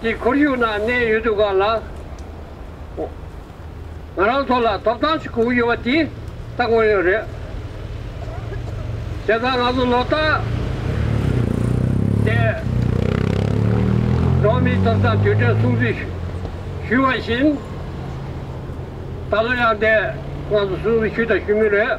ཀྱི་ཁོར་ཡུག་ནང་གནས་ཡོད་འདུག་ག་ལ་འོང། ང་རང་ཚོ་ལ་ཐོབ་ཐང་ཞིག་བསྒུགས་ཡོད་པ་དེ་ད་དངོས་ཡོད་རེད། བྱས་ཙང་ང་ཚོ་ལོ་རྟགས་དེ་འགྲོ་མིའི་ཐོབ་ཐང་དུས་དྲན་སྲུང་བརྩི་ཞུས་བ་བཞིན། ད་ལོ་ཡང་དེ་ང་ཚོ་སྲུང་བརྩི་ཞུས་དང་ཞུ་མུས་རེད།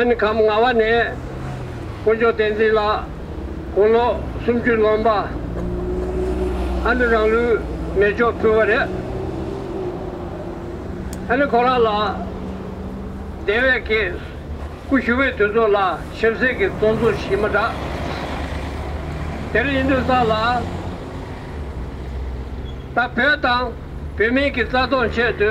ཨན་གམ་ལྔ་བ་ནས་དཀོན་མཆོག་བསྟན་འཛིན་ལགས་དགུང་ལོ་སུམ་ཅུ་ལོན་པ་ཨ་ནི་རང་ལུས་མེ་སྒྱོགས་ཕུལ་བ་རེད། ཨ་ནི་ཁོ་རང་ལ་དེ་བས་ཀྱི་སྐུ་ཞུ་བའི་དུས་ཚོད་ལ་ཞིབ་གསལ་གྱི་གཙོ་འཛུགས་ཞིག་མ་འདྲ། དེར་དབྱིན་དུ་ས་ལ་ད་བོད་དང་བོད་མིན་གྱི་རྩ་སྟོང་ཆེད་དུ་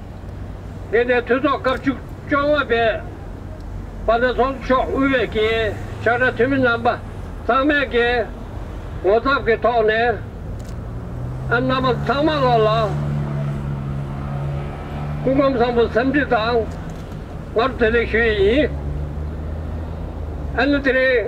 ལྔས་ནས་ཐུན་ཚོགས་སྐབས་བཅུ་བཅོ་ལྔ་པའི་བར་ན་ཚོགས་གཙོ་མཆོག་དབུས་པའི་གྱི་ཕྱག་དྲ་འཐུས་མི་རྣམ་པ་ཚང་མས་གི་ངོ་ཚབ་ཀྱི་ཐོག་ནས་ཨ་མྲ་མ་ཚང་མ་ལ་ལ་སྐུ་ཁམས་བཟང་པོ་སེམས་འཁྲི་དང་ངར་བདེ་ལེགས་ཞུ་ཡི་ཡིན་ཨ་ནི་དེ་རིང་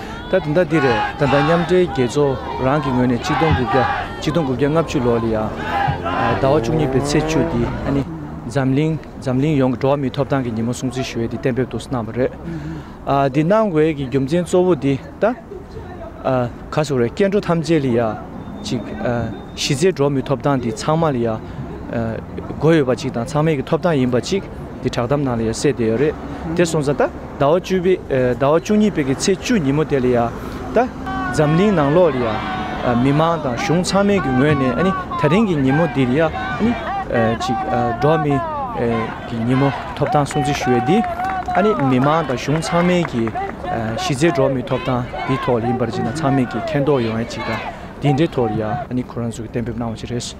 ད་དེ་འདྲ་འདི་རེད་ད་ལྟ་མཉམ་འབྲེལ་རྒྱལ་ཚོགས་རང་གི་ངོས་ནས་གཅིག་སྟོང་དགུ་བརྒྱ་གཅིག་སྟོང་དགུ་བརྒྱ་ལྔ་བཅུ་ལོར་ལ་ཡང་ཟླ་བ་བཅུ་གཉིས་པའི་ཚེས་བཅུ་འདི་ཨ་ནི་འཛམ་གླིང་འཛམ་གླིང་ཡོངས་ཀྱི་འགྲོ་བ་མིའི་ཐོབ་ཐང་གི་ཉིན་མོ་སྲུང་བརྩི་ཞུ་ཡས་འདི་གཏན་འབེབས་ཏུ་གནང་བ་རེད། འདི་གནང་དགོས་ཀྱི་རྒྱུ་མཚན་གཙོ་བོ་འདི་ལྟ། ག་ཟེ་བ་རེད་སྐྱེ་འགྲོ་ཐམས་ཅད་ལ་ཡང་གཅིག་གཞི་རྩའི་འགྲོ་བ་མིའི་ཐོབ་ཐང་འདི་ཚང་མ་ལ་ཡང་དགོས་ཡོད་པ་གཅིག་དང་ཚང་མའི་གི་ཐོབ་ཐང་ཡིན་པ་གཅིག་འདི་བསྒྲགས་གཏམ་ནང་ལ་ཡང་གསལ་བསྡད་ཡོད་རེད་དེ་སོང་ཙང་ད། ཟླ་བ་བཅུ་པའི། ཟླ་བ་བཅུ་གཉིས་པའི་གི་ཚེས་བཅུ་ཉིན་མོ་དེ་ལ་ཡང། ད། འཛམ་གླིང་ནང་ལོགས་ལ་ཡང། མི་མང་དང་གཞུང་ཚང་མའི་གི་ངོས་ནས་ནི་ད་རིང་གི་ཉིན་མོ་འདི་ལ་ཡང་ནི། ཅིག། འགྲོ་མི། གི་ཉིན་མོ་ཐོབ་ཐང་སྲུང་བརྩི་ཞུ་བའི་འདི། ནི་མི་མང་དང་གཞུང་ཚང་མའི་གི། གཞི་རྩའི་འགྲོ་མིའི་ཐོབ་ཐང་འདིའི་ཐོག་ལ་ཡིན་པར་ཅིག་ན་ཚང་མས་གི་མཁྱེན་རྟོགས་ཡོང་བའི་ཅིག་ད། འདིའི་འབྲེལ་ཐོག་ལ་ཡང་ནི་ཁོ་རང་ཚོས་གི་གཏན་འབེབས་གནང་བ་ཅིག་རེད།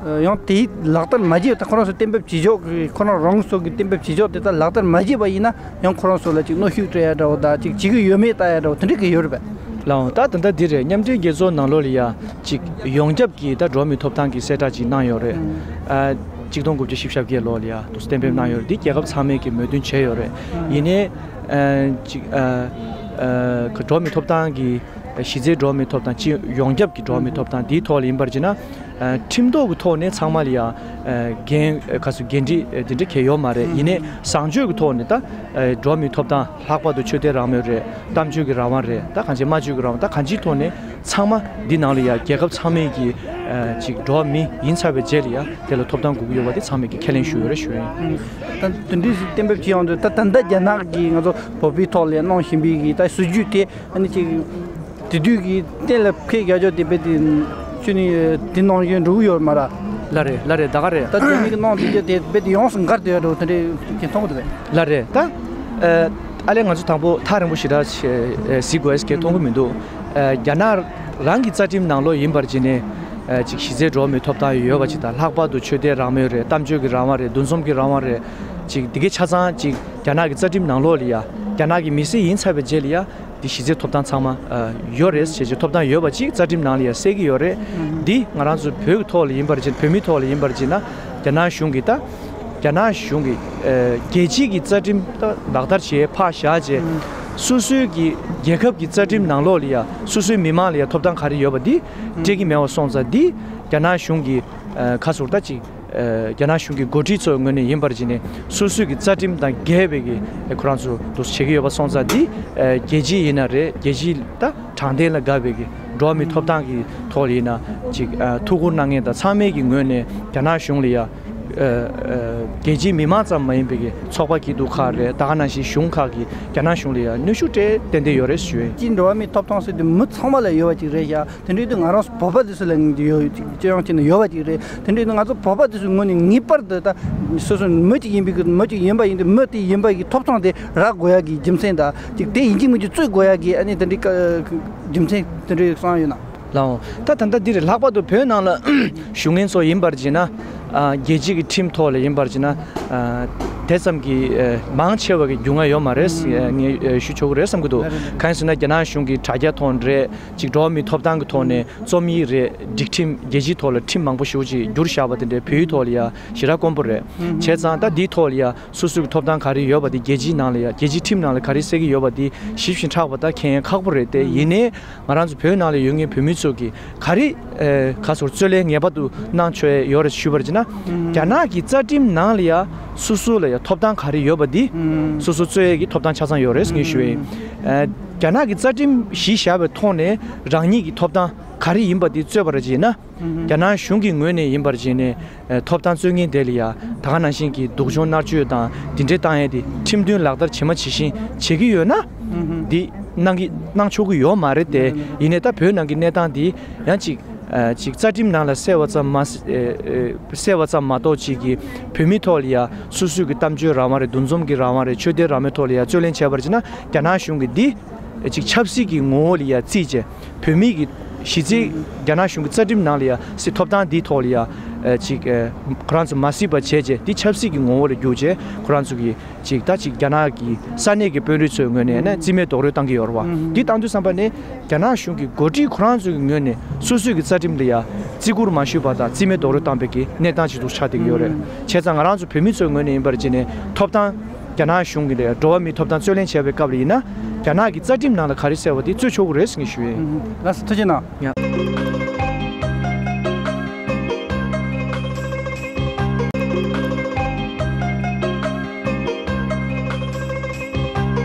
ཡང་དེ་ལག་བསྟར་མ་བྱས་པ་དག་ཁོ་རང་ཚོས་གཏན་འབེབས་བྱེད་ཕྱོགས་ཀྱི་ཁོ་རང་རང་སོ་གི་གཏན་འབེབས་བྱེད་ཕྱོགས་དེ་དག་ལག་བསྟར་མ་བྱས་པ་ཡིན་ན་ཡང་ཁོ་རང་ཚོ་ལ་ཅིག་གནོད་ཤུགས་སྤྲད་ཡ་འདྲ་བོ་དང་ཅིག་བྱེད་ཀྱི་ཡོད་མེད་བལྟ་ཡ་འདྲ་བོ་དེ་འདྲ་གི་ཡོད་རེད་པས། ལའང་ད་ད་ལྟ་འདིར་མཉམ་འབྲེལ་རྒྱལ་ཚོགས་ནང་ལོ་ལ་ཡ་ཅིག་ཡོངས་ཁྱབ་ཀྱི་ད་འགྲོ་མི་ཐོབ་ཐང་གི་གསལ་བསྒྲགས་ཅིག་གནང་ཡོད་རེད། གཅིག་སྟོང་དགུ་བརྒྱ་ཞིབ་ཞབས་བརྒྱད་ལོ་ལ་ཡ་དུ་གཏན་འབེབས་གནང་ཡོད་རེད་འདི་རྒྱལ་ཁབ་ཚང་མས་ཀྱི་མོས་མཐུན་བྱས་ཡོད་རེད། ཡིན་ནའི། ཅིག། གི་འགྲོ་མི་ཐོབ་ཐང་གི་གཞི་རྩའི་འགྲོ་མི་ཐོབ་ཐང་སྤྱི་ཡོངས་ཁྱབ་ཀྱི་འགྲོ་མི་ཐོབ་ཐང་དེའི་ཐོག་ལ་ཡིན་པར་བྱས་ན། ཁྲིམས་ཐོག་གི་ཐོག་ནས་ཚང་མ་ལ་ཡང་འགན་ཁ་སུ་འགན་འཁྲི་དེ་འདྲ་གལ་ཡོད་མ་རེད་ཡིན་ནས་བཟང་སྤྱོད་ཀྱི་ཐོག་ནས་ད་འགྲོ་མི་ཐོབ་ཐང་ལྷག་པར་དུ་ཆོས་དད་རང་མོས་རེད་གཏམ་བརྗོད་ཀྱི་རང་དབང་རེད་ད་གང་ཅི་སྨྲ་བརྗོད་ཀྱི་རང་དབང་ད་གང་ཅིའི་ཐོག་ནས་ཚང་མ་འདི་ནང་ལ་ཡང་རྒྱལ་ཁབ་ཚང་མས་ཀྱི་ཅིག་འགྲོ་མི་ཡིན་ཚར་བའི་རྗེས་ལ་ཡང་དེ་ལ་ཐོབ་ཐང་དགོས་ཀྱི་ཡོད་པ་དེ་ཚང་མས་ཀྱི་ཁས་ལེན་ཞུ་ཡོད་རེ་ཞུ་ཡོད་ཡིན། ད་དོན་དུ་གཏན་འབེབས་ཅི་ཡོང་དུས་ད་ད་ལྟ་རྒྱ་ནག་གིས་ང་ཚོ་བོད་པའི་ཐོག་ལ་ཡང་གནང་བཞིན་པའི་གི་ད་སྲིད་ཇུས་དེ་ཨ་ནི་ཅིག་དེ་དུས་ཀྱི་གཏན་ལ་ཕེབས་རྒྱ་ཆོག་དེ་བས་དེ་ཆུ་ནི་དེ་ནང་བཞིན་འབྲུག་གཡོ་རེད་མ་ར། ལ་རེད་ལ་རེད་ད་ག་རེད། ད་དེ་གཉིས་ཀྱི་ནང་དེ་རྒྱ་དེ་བས་དེ་ཡོངས་སུ་འགར་དེ་འགྲོ་དེ་འདྲའི་གྱི་མཐོང་གི་འདུག་བས། ལ་རེད་ད། ཨ་ལས་ང་ཚོ་དང་པོ་ཐག་རིང་པོ་ཞིག་ར་ཟིག་གོ་ཨེས་ཁྱེད་མཐོང་གི་མི་འདུག་རྒྱ་ནག་རང་གི་རྩ་ཁྲིམས་ནང་ལོགས་ཡིན་པར་བྱས་ནས་ཅིག་གཞི་རྩའི་འགྲོ་བ་མིའི་ཐོབ་ཐང་ཡོད་པ་ཅིག་དང་ལྷག་པར་དུ་ཆོས་དད་རང་མོས་རེད་གཏམ་བརྗོད་ཀྱི་རང་དབང་རེད་འདུ་འཛོམས་ཀྱི་རང་དབང་རེད་ཅིག་དེ་གའི་ཆ་ཚང་ཅིག་རྒྱ་ནག་གི་རྩ་ཁྲིམས་ནང་ལོགས་ལ་ཡ་རྒྱ་ནག་གི་མི་སེར་ཡིན་ཚར་བའི་རྗེས་ལ་ཡ། འདི་གཞི་རྩའི་ཐོབ་ཐང་ཚང་མ་ཡོད་རེད་བྱས་བྱས་ཐོབ་ཐང་ཡོད་པ་གཅིག་རྩ་ཁྲིམས་ནང་ལ་ཡང་གསལ་གྱི་ཡོད་རེད་འདི་ང་རང་ཚོ་བོད་ཀྱི་ཐོག་ལ་ཡིན་པར་བྱས་བོད་མིའི་ཐོག་ལ་ཡིན་པར་བྱས་ན་རྒྱ་ནག་གཞུང་གིས་ད་རྒྱ་ནག་གཞུང་གིས་རྒྱལ་སྤྱིས་ཀྱི་རྩ་ཁྲིམས་ད་ལག་བསྟར་བྱས་ཕག་བཞག་བྱས་སོ་སོའི་གི་རྒྱལ་ཁབ་ཀྱི་རྩ་ཁྲིམས་ནང་ལོགས་ལ་ཡང་སོ་སོའི་མི་མང་ལ་ཡང་ཐོབ་ཐང་ག་རེ་ཡོད་པ་འདི་སྤྲད་ཀྱི་མེད་བ་སོང་ཙང་འདི་རྒྱ་ནག་གཞུང་གིས་ཁ་ཟུར་ད་ཅིག། རྒྱ་ནག་གཞུང་གི་འགོ་ཁྲིད་ཚོའི་ངོས་ནས་ཡིན་པར་བརྗེད་ནས་སོ་སོའི་རྩ་ཁྲིམས་དང་འགལ་བའི་གི་ཁོ་རང་ཚོ་དོ་བྱེད་ཀྱི་ཡོད་པ་སོང་ཙང་འདི་རྒྱལ་སྤྱི་ཡིན་ན་རེད་རྒྱལ་སྤྱི་ད་དྲང་བདེན་ལ་དགའ་བའི་གི་འགྲོ་བ་མིའི་ཐོབ་ཐང་གི་ཐོག་ལ་ཡིན་ན་ཅིག་ཐུགས་ཁུར་གནང་མཁན་དང་ཚང་མའི་གི་ངོས་ནས་རྒྱ་ནག་གཞུང་ལ་ཡ་རྒྱལ་སྤྱིའི་མི་མང་ཙམ་མ་ཡིན་པའི་གི་ཚོགས་པ་གི་དུ་ཁ་རེད་ད་ག་ནང་བཞིན་གཞུང་ཁག་གི་རྒྱ་ནག་གཞུང་ལ་ཡ་གནོད་ཤུགས་སྤྲད་བསྟན་དེ་ཡོད་རེད་ཞུ། སྤྱིའི་འགྲོ་བ་མིའི་ཐོབ་ཐང་སྲིད་དུ་མི་ཚང་མ་ལ་ཡོད་པ་ཅིག་རེད་ཤག་དེ་འདྲའི་ང་རང་བོད་པ་དེ་ཚོ་ལ་ཅི་ཡང་ཡོད་པ་ཅིག་རེད་དེ་འདྲའི་ང་ཚོ་བོད་པ་དེ་ཚོའི་ངོས་ནས་ངེས་པར་དུ་ད་སོ་སོ་མི་གཅིག་ཡིན་པའི་མི་གཅིག་ཡིན་པ་ཡིན་དུས་མི་དེ་ཡིན་པ་ཡི་ཐོབ་ཐང་དེ་རག་དགོས་ཡ་གི་རྒྱུ་མཚན་དང་གཅིག་དེ་ཡིན་གཅིག་མིན་གྱི་རྩོད་དགོས་ཡ་གི་ཨ་ནི་དེ་འདྲའི་རྒྱུ་མཚན་དེ་འདྲའི་གསང་ཡོད་ན། ལགས་འོང། ད་ད་ལྟ་འདིར་ལྷག་པར་དུ་བོད་ནང་ལ་ཞུ་ངན་ཚོ་ཡིན་པར་གྱིས་ན། རྒྱལ་སྤྱི་གི་ཁྲིམས་ཐོག་ལ་ཡིན་པར་གྱིས་ན། དེ་ཙམ་གྱི་མང་ཆེ་བ་གི་རྒྱུས་མངའ་ཡོད་མ་རེད་ངས་ཞུ་ཆོག་གི་རེད་བསམ་གྱི་འདུག་གང་ཡིན་ཟེར་ན་རྒྱ་ནག་གཞུང་གི་དྲ་རྒྱ་ཐོག་འདྲེས། གཅིག་གྲོགས་མི་ཐོབ་ཐང་གི་ཐོག་ནས་རྩོམ་ཡིག་རེ་སྒྲིག་ཁྲིམས་རྒྱལ་སྤྱིའི་ཐོག་ལ་ཁྲིམས་མང་པོ་ཞུ་གཅིག་བསྒྱུར་བཞག་པ་དེ་འདྲའི་བོད་ཡིག་ཐོག་ལ་ཡང་གཞི་རགས་དཀོན་པོ་རེད་བྱས་ཙང་ད་འདིའི་ཐོག་ལ་ཡང་སོ་སོའི་གི་ཐོབ་ཐང་ག་རེ་ཡོད་པ་དེ་རྒྱལ་སྤྱིའི་ནང་ལ་ཡང་རྒྱལ་སྤྱིའི་ཁྲིམས་ནང་ལ་ག་རེ་གསལ་གི་ཡོད་པ་དེ་ཞིབ་བཞིན་ཕྲག་པ་ད་ཁྱད་ཡན་ཁག་པོ་རེད་དེ་ཡིན་ནའི་ང་རང་ཚོ་བོད་ནང་ལ་ཡོད་ངེས་བོད་མི་ཚོ་གི་ག་རེ་ག་སོར་རྩོད་ལེན་ངེས་པ་དུ་གནང་ཆོས་ཡོད་རེད་ཞུས་པར་ཅི་ན་རྒྱ་ནག་གི་རྩ་ཁྲིམས་ནང་ལ་ཡང་སོ་སོ་ལ་ཡང་ཐོབ་ཐང་ག་རེ་ཡོད་པ་དེ་སོ་སོ་རྩོད་ཡས་གི་ཐོབ་ཐང་ཆ་ཚང་ཡོད་རེད་ངེས་ཞུས་རྒྱ་ནག་གི་རྩ་ཁྲིམས་གཞི་བཞག་པའི་ཐོག་ནས་རང་ཉིད་ཀྱི་ཐོབ་ཐང་ག་རེ་ཡིན་པ་དེ་རྩོད་པར་བརྗེད་ན། རྒྱ་ནག་གཞུང་གི་ངོས་ནས་ཡིན་པར་བརྗེད་ནས་ཐོབ་ཐང་རྩོད་ངེས་དེ་ལ་ཡ་ད་ག་ནང་བཞིན་གྱི་སྡུག་སྦྱོང་མནར་གཅོད་དང་འདི་འདྲའི་བཏང་ཡས་ཏེ་ཁྲིམས་མཐུན་ལག་བསྟར་བྱེད་མ་བྱེད་བཞིན་བྱེད་ཀྱི་ཡོད་ན། འདི་གནང་གི་གནང་ཆོག་གི་ཡོད་མ་རེད་དེ་ཡིན་ནས་ད་བོད་ནང་གི་གནས་སྟངས་འདི་ཡང་ཅིག་ཅིག་རྩ་ཁྲིམས་ནང་ལ་གསལ་བ་ཙམ་མ་གསལ་བ་ཙམ་མ་གཏོགས་ཅིག་གིས་བོད་མི་ཐོག་ལ་ཡ་སུ་སུ་གི་གཏམ་བརྗོད་རང་དབང་རེད་འདུ་འཛོམས་ཀྱི་རང་དབང་རེད་ཆོས་དད་རང་མོས་ཐོག་ལ་ཡང་རྩོད་ལེན་བྱས་པར་གྱིས་ན་རྒྱ་ནག་གཞུང་གི་འདི་གཅིག་ཆབ་སྲིད་ཀྱི་ངོ་བོ་ལ་ཡང་བརྩིས་ཀྱི་བོད་མི་གི་གཞི་རྩའི་རྒྱ་ནག་གཞུང་གི་རྩ་ཁྲིམས་ནང་ལ་ཡང་སྲིད་ཐོབ་ཐང་འདི་ཐོག་ལ་ཡང་གཅིག་ཁོ་རང་ཚོ་མ་སྲིད་པ་བྱས་ཀྱི་འདི་ཆབ་སྲིད་ཀྱི་ངོ་བོ་ལ་བསྒྱུར་ཀྱི་ཁོ་རང་ཚོ་གི་གཅིག་ད་ཅིག་རྒྱ་ནག་གི་ས་གནས་ཀྱི་དཔོན་རིགས་ཚོའི་ངོས་ནས་ནི་རྩིས་མེད་རྡོག་རོལ་བཏང་གི་ཡོད་རེད་བ་འདི་བཏང་དུས་བསམ་པ་ནི་རྒྱ་ནག་གཞུང་གི་འགོ་ཁྲིད་ཁོ་རང་ཚོའི་ངོས་ནས་སུ་སུ་གི་རྩ་ཁྲིམས་ལ་ཡང་བརྩི་བཀུར་མ་ཞུས་པ་དང་རྩིས་མེད་རྡོག་རོལ་བཏང་བའི་གི་གནས་སྟངས་གཅིག་ཏུ་ཆགས་བསྡད་ཀྱི་ཡོད་རེད། བྱས་ཙང་ང་རང་ཚོ་བོད་མི་ཚོའི་ངོས་ནས་ཡིན་པར་བྱས་ནས་ཐོབ་ཐང། རྒྱ་ནག་གཞུང་གི་ལས་འགྲོ་བ་མིའི་ཐོབ་ཐང་རྩོད་ལེན་བྱས་པའི་སྐབས་ལ་ཡིན་ན། རྒྱ་ནག་གི་རྩ་ཁྲིམས་ནང་ལ་ག་རེ་གསལ་བ་དེ་རྩོད་ཆོག་གི་རེད་ཟེར་གྱི་ཞུ་ཡོད།